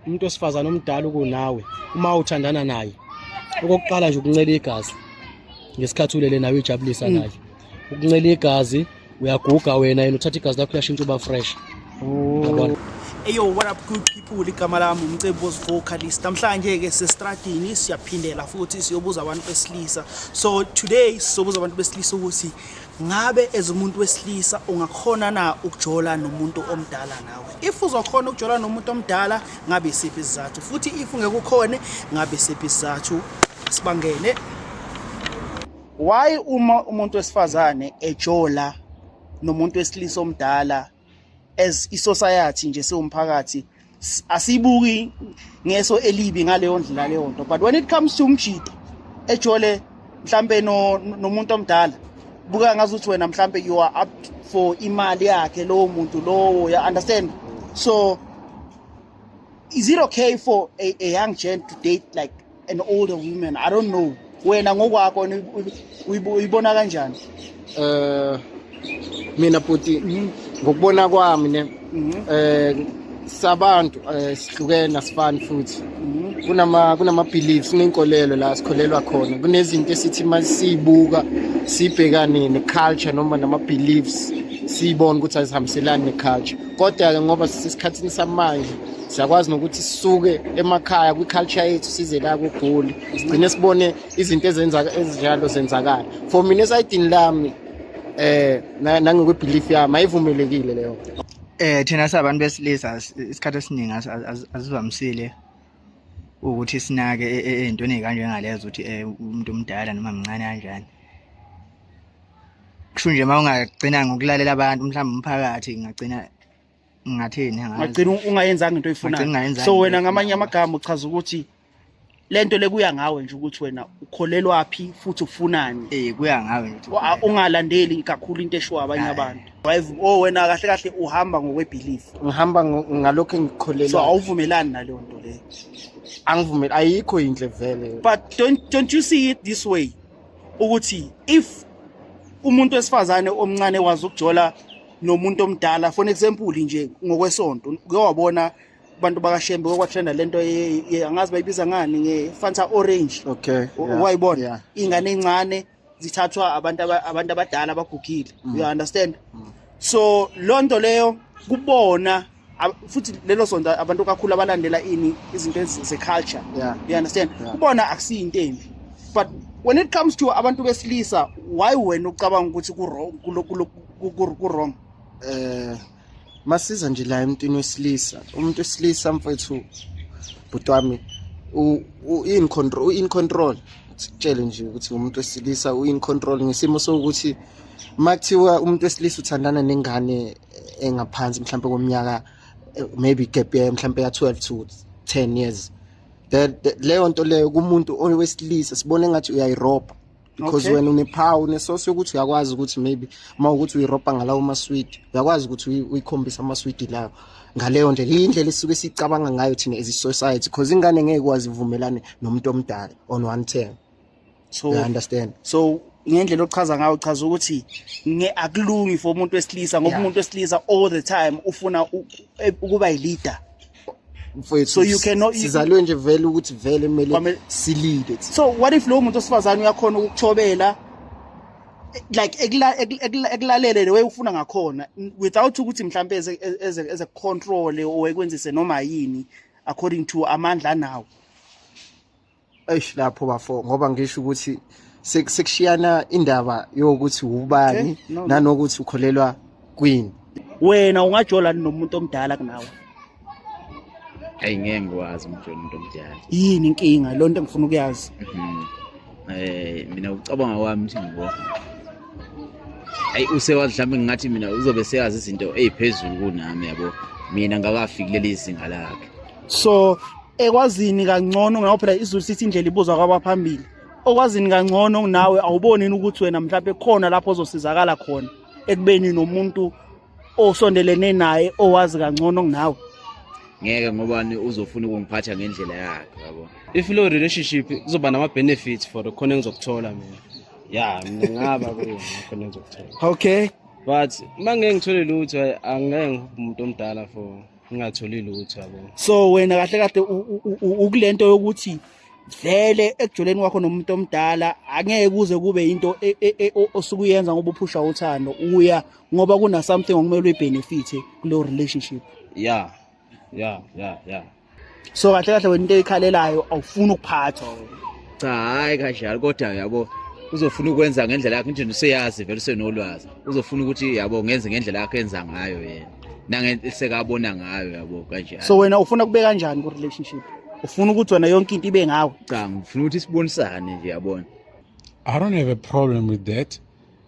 umuntu osifazane omdala ukunawe uma uthandana naye okokuqala nje ukuncela igazi ngesikhathi ulele nawe ijabulisa mm. naye ukuncela igazi uyaguga wena yena uthatha igazi lakho uyashintsha uba fresh oh. eyo what up good people igama lami umcebo vocalist namhlanje ke sesitradini siyaphindela futhi siyobuza abantu besilisa so today sizobuza abantu besilisa ukuthi Ngabe as umuntu wesilisa ungakhona na ukujola nomuntu omdala nawe? If uzokhona ukujola nomuntu omdala ngabe isiphi isizathu? Futhi if ungekukhone ngabe isiphi isizathu? Sibangene. Why uma umuntu wesifazane ejola nomuntu wesilisa omdala as isociety nje siwumphakathi asibuki ngeso elibi ngaleyo ndlela leyo nto but when it comes to umjito ejole mhlambe no nomuntu omdala buka ngazi ukuthi wena mhlambe you are up for imali yakhe lowo muntu lowo ya understand so is it okay for a, a young gent to date like an older woman i don't know wena ngokwakho uyibona kanjani eh mina bhuti mhm. ngokubona kwami ne mhm. eh sabantu eh, sihlukene asifani futhi mhm. kunama kunama beliefs nenkolelo la sikholelwa khona kunezinto esithi masibuka sibhekane ne culture noma nama beliefs siyibona ukuthi azihambiselani ne culture kodwa ke ngoba sisikhathini samanje siyakwazi nokuthi sisuke emakhaya kwi-culture yethu size la kugoli sigcine sibone izinto ezinjalo zenzakala for mina esayidini lami eh nangokwebelief yami ayivumelekile leyo eh thina sabantu besilisa isikhathi esiningi asivamisile ukuthi sinake e, e, ey'ntweni ey'kanjengalezo ukuthi eh, umuntu omdala noma mncane kanjani kusho nje uma ungagcina ngokulalela abantu mhlawumbe umphakathi ngingagcina ngingathini ngagcina ungayenzanga into oyifunayo so wena ngamanye amagama uchaza ukuthi lento lekuya ngawe nje ukuthi wena ukholelwa phi futhi ufunani eh kuya ngawe nje ungalandeli kakhulu into eshiwa abanye abantu drive oh wena kahle kahle uhamba ngokwebelief ngihamba ngalokho engikholelwa so awuvumelani naleyo nto le angivumeli ayikho inhle vele but don't don't you see it this way ukuthi if umuntu wesifazane omncane wazi ukujola nomuntu omdala for example nje ngokwesonto uke wabona abantu bakashembe kwakwatrenda lento angazi bayibiza ngani nge-fanta orange okay wayibona yeah. ingane encane zithathwa abantu abantu abadala abagugile mm. you understand mm. so loo nto leyo kubona futhi lelo sonto abantu kakhulu abalandela ini izinto ze-culture yeah. you understand yeah. kubona akusiyinto embi but when it comes to abantu besilisa why wena ucabanga ukuthi ku-wrong um masiza nje la emntwini wesilisa umuntu wesilisa mfethu bhuti wami u-in control u-in control sikutshele nje ukuthi umuntu wesilisa u-in control ngesimo sokuthi uma kuthiwa umuntu wesilisa uthandana nengane engaphansi mhlawumbe komnyaka eh, maybe gap year mhlawumbe ya 12 to 10 years leyo nto leyo kumuntu owesilisa sibone ngathi uyayirobha because wena unephawu unesosi yokuthi uyakwazi ukuthi maybe uma ukuthi uyirobha ngalawo maswidi uyakwazi ukuthi uyikhombise amaswidi lawo ngaleyo ndlela iyindlela esisuke sicabanga ngayo thina as i-society because ingane ngeke kwazi ivumelane nomuntu omdala on one term so I understand so ngendlela ochaza ngayo uchaza ukuthi nge akulungi for umuntu wesilisa ngoba umuntu wesilisa all the time ufuna e, ukuba yileader mfowethu so you cannot sizalwe nje vele ukuthi vele kumele silide so what if lo muntu osifazane uyakhona ukuchobela like ekulalele the way ufuna ngakhona without ukuthi mhlambe eze eze control or ekwenzise noma yini according to amandla nawo eish lapho bafo ngoba ngisho ukuthi sek- sekushiyana indaba yokuthi ubani Eh, no, no. nanokuthi ukholelwa kwini wena ungajolani nomuntu omdala kunawe ayi ngeke ngikwazi umjolo umuntu omdala yini inkinga loo nto engifuna ukuyazi Mhm. eh mina ucabanga kwami ukuthi ngibo ayi usewazi mhlawumbe ngingathi mina uzobe seyazi izinto eziphezulu kunami yabo mina ngakafiki leli zinga lakhe so ekwazini kangcono ngakho phela izulu sithi indlela ibuzwa kwabaphambili okwazini kangcono nawe awuboni ukuthi wena mhlawumbe khona lapho ozosizakala khona ekubeni nomuntu osondelene naye owazi kangcono kunawe ngeke ngobani uzofuna ukungiphatha ngendlela yakhe yabo if lo relationship kuzoba nama benefits for khona engizokuthola mina ya mina ngaba kuyo khona engizokuthola okay but uma ngeke ngithole lutho angeke ngibe umuntu omdala for ngingatholi lutho yabo so wena kahle kahle ukulento yokuthi vele ekujoleni kwakho nomuntu omdala angeke kuze kube into e, e, e, osuke uyenza ngoba uphusha uthando uya ngoba kuna something okumele uyibenefit kulo relationship yeah yeah yeah yeah so kahle kahle wena into eyikhalelayo awufuni ukuphathwa cha hayi kanjalo kodwa yabo uzofuna ukwenza ngendlela yakhe nje useyazi vele usenolwazi uzofuna ukuthi yabo ngenze ngendlela yakhe enza ngayo yena nangesekabona ngayo yabo kanjalo so wena ufuna kube kanjani ku relationship ufuna ukuthi wena yonke into ibe ngawe cha ngifuna ukuthi sibonisane nje yabona i don't have a problem with that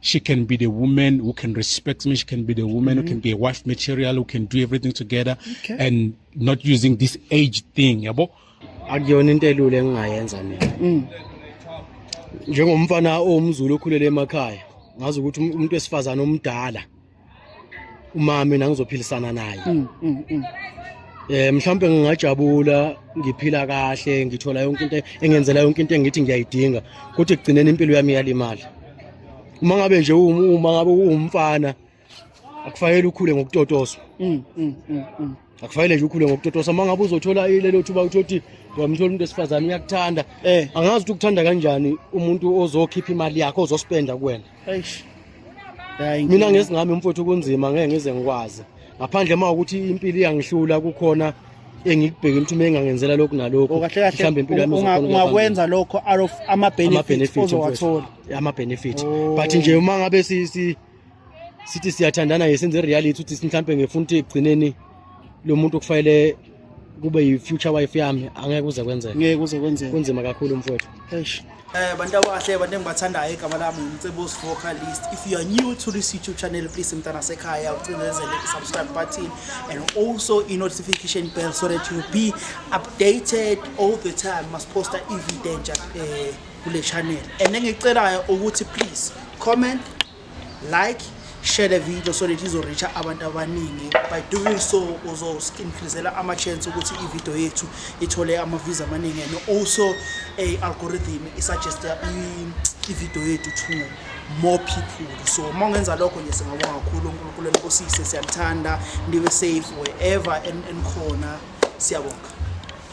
she can be the woman who can respect me. She can be the woman mm-hmm. who can be a wife material, who can do everything together okay. and not using this age thing. Yabo? Akuyona into elula engingayenza mina. Mm. Njengomfana owumzulu okhulele emakhaya, ngazi ukuthi umuntu wesifazana omdala uma mina ngizophilisana naye mm, mm, mm. eh mhlawumbe ngingajabula ngiphila kahle ngithola yonke into engenzela yonke into engithi ngiyayidinga kuthi kugcineni impilo yami yalimali uma ngabe nje uma ngabe uwumfana akufanele ukhule ngokutotoswa akufanele nje ukhule ngokutotosa uma ngabe uzothola lelo thuba ukuthi othi wamthola umuntu wesifazane uyakuthanda eh. angazi ukuthi ukuthanda kanjani umuntu ozokhipha imali yakho ozospenda kuwena mina ngesingami mfowethu kunzima ngeke ngize ngikwazi ngaphandle uma ukuthi impilo iyangihlula kukhona engikubhekile ukuthi uma engangenzela lokhu nalokhu oh, mhlawumbe impilo yami ungakwenza lokho out of ama-benefit ozowathola ama-benefit oh. but nje uma ngabe sithi siyathandana ye senze reality ukuthi mhlawumbe ngifuna ukuthi ekugcineni lo muntu okufanele kube yi-future wife yami angeke kuze kwenzeka ngeke kuze kwenzeka kunzima kakhulu mfowethu eish Eh bantu abahle abantu engibathandayo igama lami ngicebo Smoker List. If you are new to this YouTube channel please mntana sekhaya ucinezele i subscribe button and also i notification bell so that you be updated all the time. Must post a video nje. Eh kule channel and engicelayo ukuthi please comment like share le video so that izoreacha abantu abaningi by doing so uzo-increasela ama-chance ukuthi ivideo yethu ithole ama-views amaningi and also i-algorithm isuggeste ivideo yethu to more people so uma ungenza lokho nje singabonga kakhulu unkulunkulu enkosise siyanithanda nibe safe wherever enikhona siyabonga